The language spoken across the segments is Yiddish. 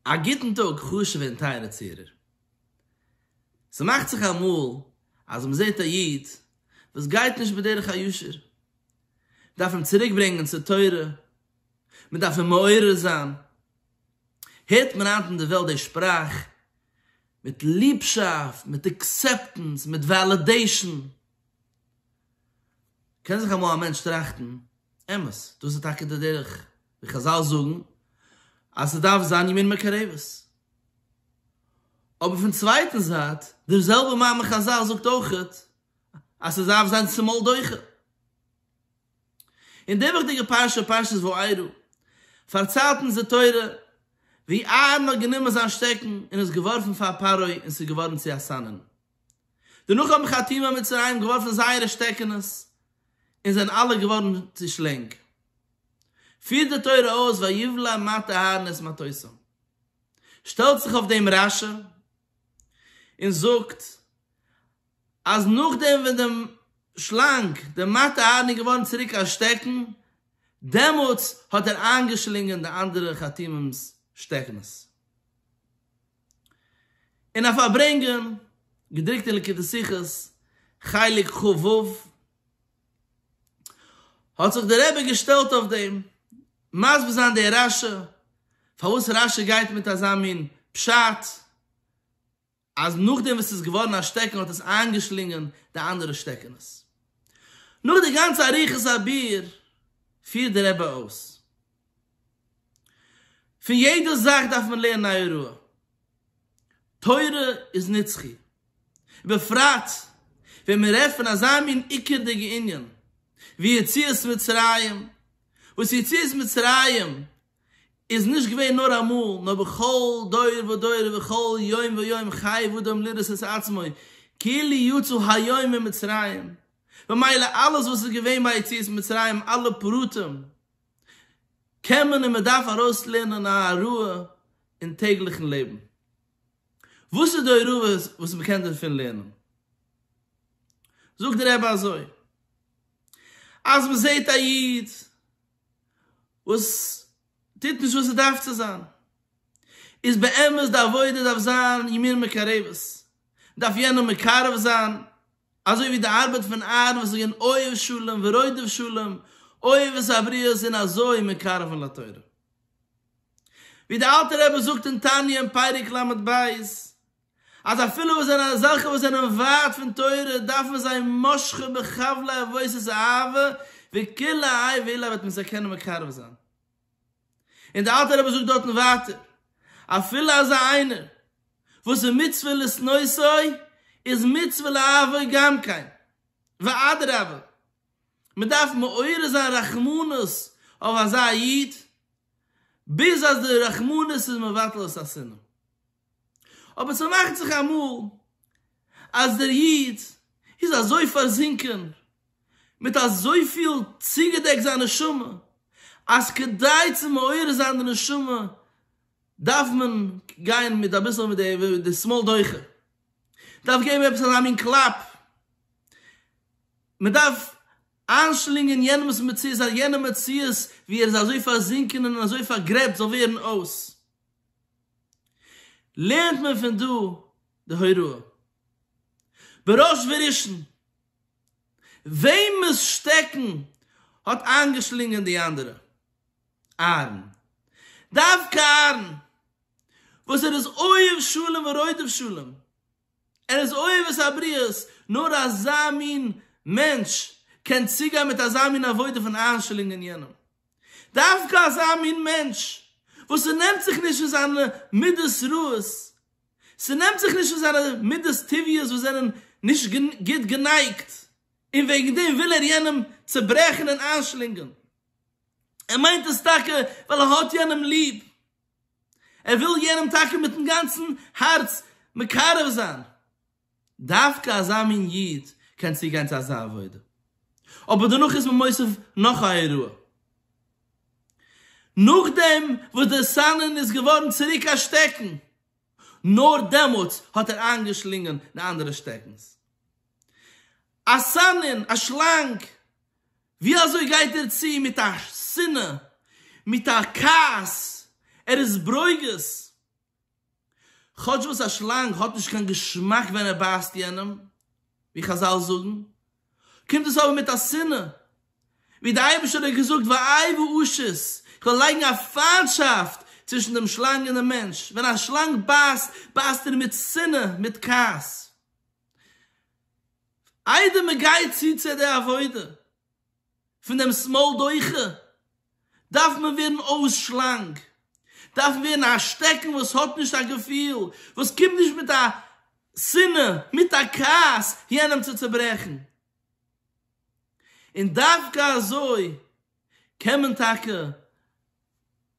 א גוטן טאג חשוב'ע און טייערע צוהערער. ס'מאכט זיך אמאל אז מען זעט א איד וואס גייט נישט בדרך הישר, מען דארף אים צוריק ברענגען צו תורה, מען דארף אים מעורר זיין, הערט מען היינט אין די וועלט די שפראך מיט ליבשאפט, מיט עקסעפטענס, מיט וועלידעישאן, קען זיך אמאל א מענטש טראכטן, אמת, דאס איז טאקע די דרך די חזל זאגן אז ס'דארף זיין ימין מקרבת. אבער פון צווייטן זייט, דער זעלבער מאמר חזל זאגט אויך אז ס'דארף זיין צומאל דוחה. אין די וויכטיגע פרשה, פרשת וארא, פארציילט אונז די תורה ווי אהרן האט גענומען זיין שטעקן און עס געווארפן פאר פרעה און ס'איז געווארן צו א סנן. דערנאך האבן חתימי מצרים געווארפן זייערע שטעקענעס און זענען אלע געווארן צו שלענג. פירט די תורה אויס ויבלע מטה אהרן את מטותו. שטעלט זיך אויף דעם רשע און זאגט אז נאכדעם ווען דעם שלאנג, דער מטה אהרן איז געווארן צוריק א שטעקן, דעמאלטס האט ער איינגעשלינגען די אנדערע חתימים'ס שטעקנס. אין א פארברענגען, געדרוקט אין ליקוטי שיחות חלק ח ו, האט זיך דער רבי געשטעלט אויף דעם, מסביר זיין דער רשי, פארוואס רשי גייט מיט אזא מין פשט, אז נאכדעם וואס עס איז געווארן א שטעקן האט עס איינגעשלינגען די אנדערע שטעקענעס. נאך די גאנצע אריכות הביאור, פירט דער רבי אויס, פון יעדע זאך דארף מען לערנען א הוראה, תורה איז נצחי. ובפרט ווען מיר רעדט פון אזא מין עיקר'דיגע ענין ווי יציאת מצרים, וואס יציאת מצרים איז נישט געווען נאר אמאל, נאר בכל דור ודור ובכל יום ויום חייב אדם לראות את עצמו כאילו יצא היום ממצרים, ממילא אלעס וואס איז געווען ביי יציאת מצרים, אלע פרטים, קען מען און מען דארף ארויסלערנען א הוראה אין טעגליכן לעבן. וואס איז די הוראה וואס מען קען דערפון לערנען? זאגט דער רבי אזוי, אז מען זעט א איד וואס טוט נישט וואס ער דארף צו זיין, איז באמת די עבודה דארף זיין ימין מקרבת, דארף יענעם מקרב זיין, אזוי ווי די ארבעט פון אהרן וואס איז געווען אוהב שלום ורודף שלום, אוהב את הבריות און אזוי מקרבן לתורה. ווי די אלטע רבי זאגט אין תניא אין פרק ל ב, אז אפילו וואס זענען אזעלכע וואס זענען ווייט פון תורה דארפן זיי משכו בחבלי עבודת האהבה, ווי כלה אהיב אילא וועט מען זיי קענען מקרב זיין. און דער אלטער רבי זאגט דארטן ווייטער, אפילו אזא איינער וואס איז מצווה לשנותו איז מצווה לאהבו גם כן, ואדרבה, מען דארף מעורר זיין רחמנות אויף אזא איד, ביז אז די רחמנות איז מבטל את השנאה. אבער ס'מאכט זיך אמאל אז דער איד איז אזוי פארזינקען מיט אזויפיל צוגעדעקט זיין נשמה אז כדי צו מעורר זיין די נשמה דארף מען גיין מיט אביסל מיט די שמאל דוחה, מ'דארף געבן עפעס אזא מין קלאפ, מ'דארף איינשלינגען יענעמ'ס מציאות אז יענער מציאות ווי ער איז אזוי פארזינקען און אזוי פארגרעבט זאל ווערן אויס. לערנט מען פון דא די הוראה, בראש וראשון, וועמעס שטעקן האט איינגעשלינגען די אנדערע? אהרן. דווקא אהרן, וואס ער איז אוהב שלום ורודף שלום. ער איז אוהבת הבריות, נאר אזא מין מענטש קען צוגיין מיט אזא מין עבודה פון איינשלינגען יענעם. דווקא אזא מין מענטש וואס ס'נעמט זיך נישט פון זיינע מידות רעות, ס'נעמט זיך נישט פון זיינע מידות טבעיות וואס זענען נישט גוט גענייגט, און וועגן דעם וויל ער יענעם צוברעכן און איינשלינגען. ער מיינט עס טאקע ווייל ער האט יענעם ליב, ער וויל יענעם טאקע מיטן גאנצן הארץ מקרב זיין, דווקא אזא מין איד קען צוגיין צו אזא עבודה, אבער דערנאך איז מען מוסיף נאך א אירוע, נאכדעם וואס דער סנן איז געווארן צוריק א שטעקן, נאר דעמאלטס האט ער איינגעשלינגען די אנדערע שטעקנס, א סנן, א שלאנג! ווי אזוי גייט ער צו מיט א שנאה, מיט א כעס, ער איז ברוגז, כאטש וואס א שלאנג האט נישט קיין געשמאק ווען ער בייסט יענעם, ווי חזל זאגן, קומט עס אבער מיט א שנאה, ווי דער אייבערשטער האט געזאגט ואאי ואושות, איך וועל לייגן א פיינטשאפט צווישן דעם שלאנג און דעם מענטש, ווען א שלאנג בייסט, בייסט ער מיט שנאה, מיט כעס. איידער מען גייט צו צו די עבודה פון דעם סמאל דוחה, דארף מען ווערן אויס שלאנג, דארף מען ווערן א שטעקן וואס האט נישט א געפיל, וואס קומט נישט מיט א שנאה, מיט א כעס יענעם צו צעברעכן. און דווקא אזוי קען מען טאקע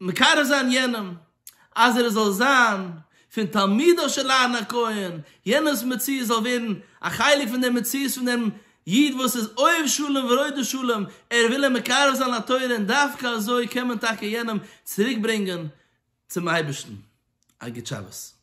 מקרב זיין יענעם אז ער זאל זיין פון תלמידיו של אהרן הכהן, יענעמ'ס מציאות זאל ווערן א חלק פון דער מציאות פון דעם איד וואס איז אוהב שלום ורודף שלום, ער וויל אים מקרב זיין לתורה און דווקא אזוי קען מען טאקע יענעם צוריק ברענגען צום אייבערשטן. א גוט שבת.